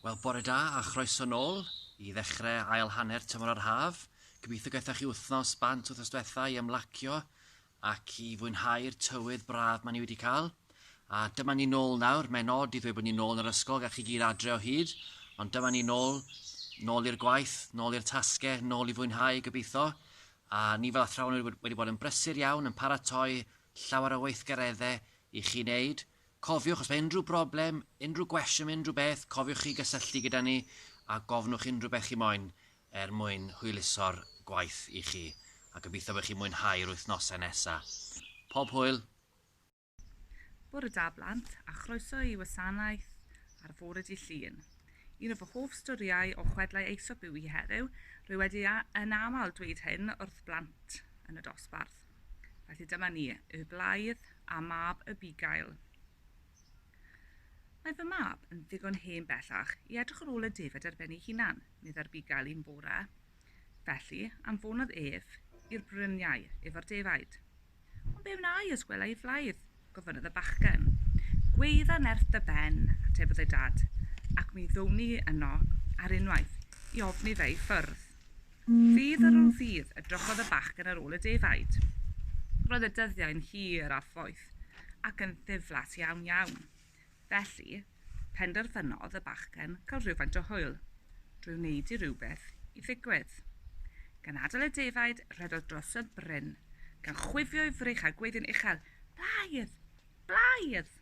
Wel, bore da a chroeso nôl i ddechrau ail hanner tymor yr haf. Gobeithio gaethoch chi wythnos bant wythnos diwetha i ymlacio ac i fwynhau'r tywydd braf maen ni wedi cael. A dyma ni nôl nawr, mae'n od i ddweud bod ni nôl yn yr ysgol, gach chi gyd adre o hyd, ond dyma ni nôl, nôl i'r gwaith, nôl i'r tasgau, nôl i fwynhau gobeithio. A ni fel athrawon wedi bod yn brysur iawn, yn paratoi llawer o weithgareddau i chi wneud, Cofiwch, os mae unrhyw broblem, unrhyw gwestiwn, unrhyw beth, cofiwch chi gysylltu gyda ni a gofnwch unrhyw beth chi moyn er mwyn hwyluso'r gwaith i chi, a gobeithio bod chi'n mwynhau'r wythnosau nesa. Pob hwyl! Bore da blant, a chroeso i wasanaeth ar fore Dydd Llun. Un o fy hoff storïau o chwedlau Aesop yw hi heddiw, rwy wedi yn aml dweud hyn wrth blant yn y dosbarth. Felly dyma ni, Y Blaidd. a mab Abigail. Mae fy mab yn ddigon hen bellach i edrych ar ôl y defaid ar ben ei hunan, medd Abigail un bore. Felly, anfonodd ef i'r bryniau efo'r defaid. Ond be wna i os gwela i flaidd? gofynnodd y bachgen. Gweidda nerth dy ben, atebodd ei dad, ac mi ddown ni yno ar unwaith i ofni fe i ffwrdd. Ddydd ar ôl ddydd, edrychodd y bachgen ar ôl y defaid. Roedd y dyddiau'n hir a phoeth, ac yn ddiflas iawn iawn. Felly, penderfynodd y bachgen gael rhywfaint o hwyl, drwy wneud i rywbeth i ddigwydd. Gan adael y defaid, rhedodd dros y bryn, gan chwifio'i frych a gweiddi'n uchel, Blaidd! Blaidd!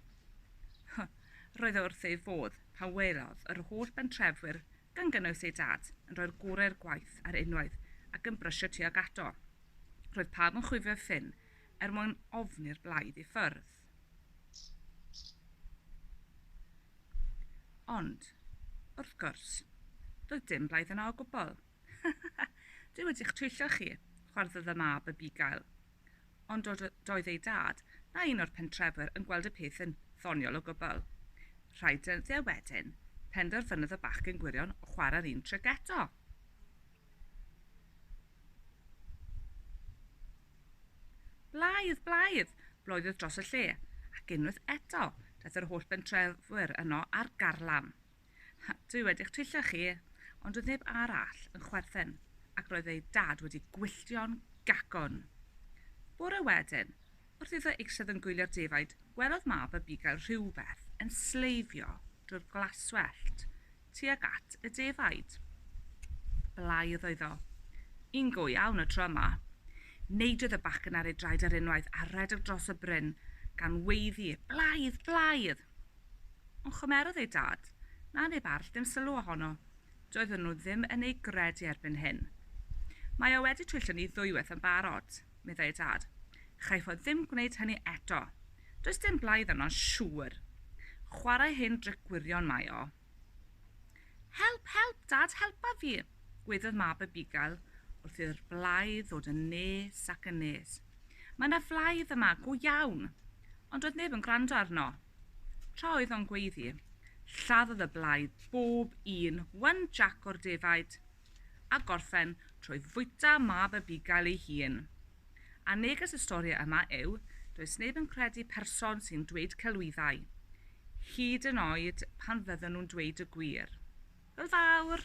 Roedd o wrth ei fodd pan welodd yr holl bentrefwyr gan gynnwys ei dad, yn rhoi'r gore i'r gwaith ar unwaith ac yn brysio tuag ato. Roedd pawb yn chwifio ffyn er mwyn ofn i'r blaidd i ffwrdd. Ond, wrth gwrs, doedd dim blaidd yna o gwbl. Dwi wedi'ch twyllo chi, chwarddodd y mab y bugail. ond dod o doedd ei dad na un o'r pentrefwyr yn gweld y peth yn ddoniol o gwbl. Rhai dyddiau wedyn, penderfynodd y bachgen gwirion chwarae'r un tric eto. Blaidd, blaidd, bloeddodd dros y lle, ac unwaith eto, daeth yr holl bentrefwyr yno ar garlam. Ha, dwi wedi'ch twyllo chi! Ond doedd neb arall yn chwerthin, ac roedd ei dad wedi gwylltio'n gacwn. Bore wedyn, wrth iddo eistedd yn gwylio'r defaid, gwelodd mab y bugail rhywbeth yn sleifio drwy'r glaswellt tuag at y defaid. Blai oedd iddo. Yn go iawn y tro yma. Neidiodd y bachgen ar ei draed ar unwaith a rhedeg dros y bryn gan weiddi, Blaidd! Blaidd! Ond chymerodd ei dad, na neb arall, dim sylw ohono. Doedden nhw ddim yn ei gred i erbyn hyn. Mae o wedi twyllo ni ddwywaith yn barod, meddai ei dad. Chaiff o ddim gwneud hynny eto. Does dim blaidd arno'n siŵr. Chwarae hen dric gwirion mae o. Help, help, Dad, helpa fi! gwaeddodd mab y bugail wrth i'r blaidd ddod yn nes ac yn nes. Mae yna flaidd yma, go iawn! Ond doedd neb yn gwrando arno. Tra oedd o'n gweiddi, lladdodd y blaidd bob un wan Jac o'r defaid, a gorffen trwy fwyta mab y bugail ei hun. A neges y stori yma yw, does neb yn credu person sy'n dweud celwyddau, hyd yn oed pan fydden nhw'n dweud y gwir. Hwyl fawr!